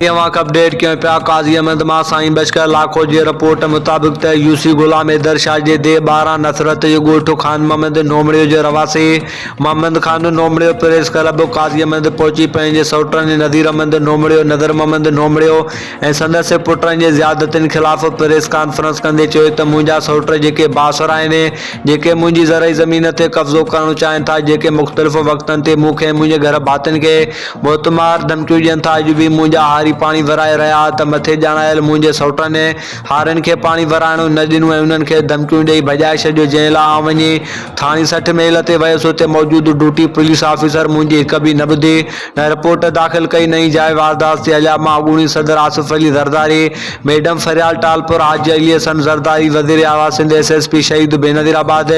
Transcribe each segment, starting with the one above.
اوهانکي اپڊيٽ ڪيون پيا قاضي احمد مان سائين بشڪر لاکو جي رپورٽ مطابق ته يوسي غلام حيدر شاهه جي ديهه ٻارهن نصرت جو ڳوٺ خان محمد نومڙيو جو رهواسي محمد خان نومڙيو پريس ڪلب قاضي احمد پهچي پنهنجي سئوٽن نذير احمد نومڙيو نذر محمد نومڙيو ۽ سندس پٽن جي زيادتين خلاف پريس ڪانفرنس ڪندي چيو ته منهنجا سئوٽ جيڪي بااثر آهن جيڪي منهنجي زرعي زمين تي قبضو ڪرڻ چاهين ٿا جيڪي مختلف وقتن تي مون کي ۽ منهنجي گهر ڀاتين کي موتمار ڌمڪيون ڏين ٿا. اڄ به منهنجا هاري پاڻي ڀرائي رهيا ها ته مٿي ڄاڻايل منهنجي سئوٽن ۽ هارين کي پاڻي ڀرائڻو نه ڏنو ۽ انهن کي ڌمڪيون ڏئي ڀڄائي ڇڏيو جنهن لاء آئون وڃي ٿاڻي سٺ ميل تي ويس اتي موجود ڊوٽي پوليس آفيسر منهنجي هڪ به نه ٻڌي نه رپورٽ داخل ڪئي نه ئي جاء واردات تي هليا مان اڳوڻي صدر آصف علي زرداري ميڊم فريال ٽالپر حاجي علي احسن زرداري وزير اعليٰ Sindh S S P Shaheed Benazir آباد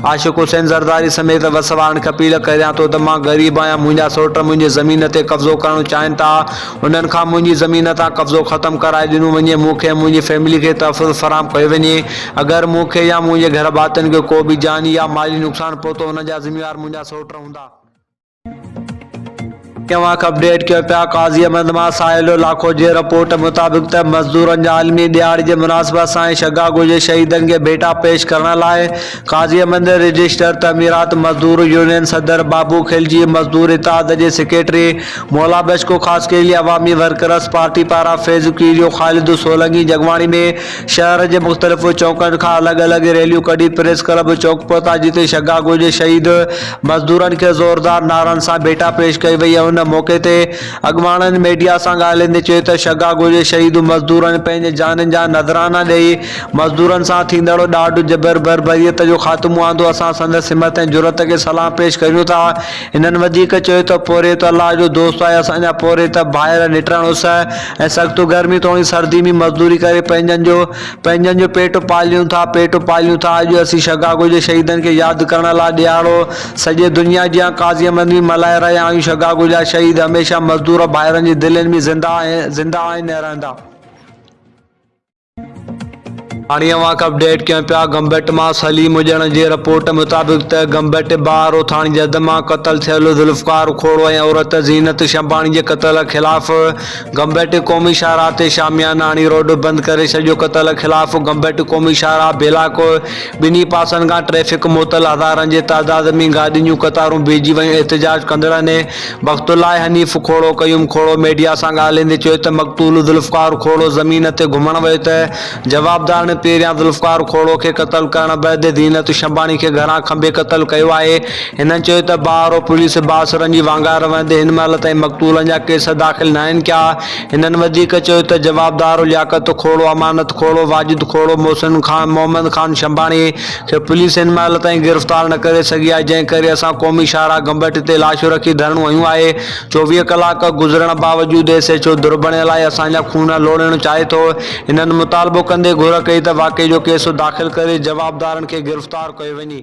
عاشق حسين زرداري سميت وس وارن کي اپيل ڪريان ٿو ته مان غريب آهيان، منهنجا سوٽ منهنجي زمين تي قبضو ڪرڻ چاهين ٿا، انهن کان منهنجي زمين تان قبضو ختم ڪرائي ڏنو وڃي، مون کي ۽ منهنجي فيملي کي تحفظ فراهم ڪيو وڃي، اگر مون کي يا منهنجي گهر ڀاتين کي ڪو به جاني يا مالي نقصان پهتو انهن جا ذميوار منهنجا سوٽ هوندا. ڪيونڪ اپڊيٽ ڪيو پيا قاضي احمد مان ساحلو لاکو جي رپورٽ مطابق ته مزدورن جي عالمي ڏهاڙي جي مناسبت سان ۽ شگاگو جي شهيدن کي ڀيٽا پيش ڪرڻ لاء قاضي احمد رجسٽر تعميرات مزدور يونين صدر بابو خلجي مزدور اتحاد جي secretary Mola Bashko Khaskheli Awami workers party پاران فيض ڪيريو خالد سولنگي جڳواڻي ۾ شهر جي مختلف چوڪن کان الڳ الڳ ريليون ڪڍي پريس ڪلب چوڪ پهتا جتي شگاگو جي شهيد مزدورن کي زوردار نعرن سان ڀيٽا پيش ڪئي وئي ۽ ان موقعي تي اڳواڻن ميڊيا سان ڳالهائيندي چيو ته شگاگو جي شهيد مزدورن پنهنجي جانين جا نذرانا ڏئي مزدورن سان ٿيندڙ ڏاڍ جبر بربريت جو خاتمو آندو اسان سندس همت ۽ جرئت کي سلام پيش ڪريون ٿا. هنن وڌيڪ چيو ته پورهيت الله جو دوست آهي، اسان جا پورهيت ڀائر نٽرن اس ۽ سخت گرمي توڻي سردي ۾ مزدوري ڪري پنهنجن جو پنهنجن جو پيٽ پاليون ٿا پيٽ پاليون ٿا اڄ اسين شگاگو جي شهيدن کي ياد ڪرڻ لاء ڏيهاڙو سڄي دنيا جيان قاضيء منجهه ملهائي رهيا آهيون شگاگو جا شهيد هميشه مزدور ڀائرن جي دلين ۾ زنده آهن ۽ رهندا. هاڻي اوهان کي اپڊيٽ ڪيون پيا گمبٽ مان سليم اڄڻ جي رپورٽ مطابق ته گمبٽ بار اوٿاڻي جد مان قتل ٿيل ذوالفقار کوڙو ۽ عورت زينت شمباڻي جي قتل خلاف گمبٽ قومي شاهراهه تي شامياناڻي روڊ بند ڪري ڇڏيو قتل خلاف گمبٽ قومي شاهراهه بيلاڪ ٻنهي پاسن کان ٽريفڪ معطل هزارن جي تعداد ۾ گاڏين جون قطارون بيهجي ويون احتجاج ڪندڙن وقت لاء حنيف کهڙو قيوم کهڙو ميڊيا سان ڳالهائيندي چيو ته مقتول ذوالفقار کهڙو زمين تي گهمڻ ويو ته جوابدارن پهريان ذوالفقار کهڙو کي قتل ڪرڻ بعد زينت شنباڻي کي گهران کنڀي قتل ڪيو آهي هنن چيو ته بارو پوليس بااثرن جي وانگار وهندي هن مهل تائين مقتولن جا ڪيس داخل ناهن ڪيا هنن وڌيڪ چيو ته جوابدار لياقت کهڙو امانت کهڙو واجد کهڙو محسن خان محمد خان شنباڻي کي پوليس هن مهل تائين گرفتار نه ڪري سگهي آهي جنهن ڪري اسان قومي شاهراهه گمبٽ تي لاشون رکي ڌرڻو هنيو آهي چوويهه ڪلاڪ گذرڻ باوجود ايس ايڇ او دربڻيل آهي اسان جا خون لوڙهڻ چاهي ٿو هنن مطالبو ڪندي گهر ڪئي ته واقعي جو ڪيس داخل ڪري جوابدارن کي گرفتار ڪيو وڃي.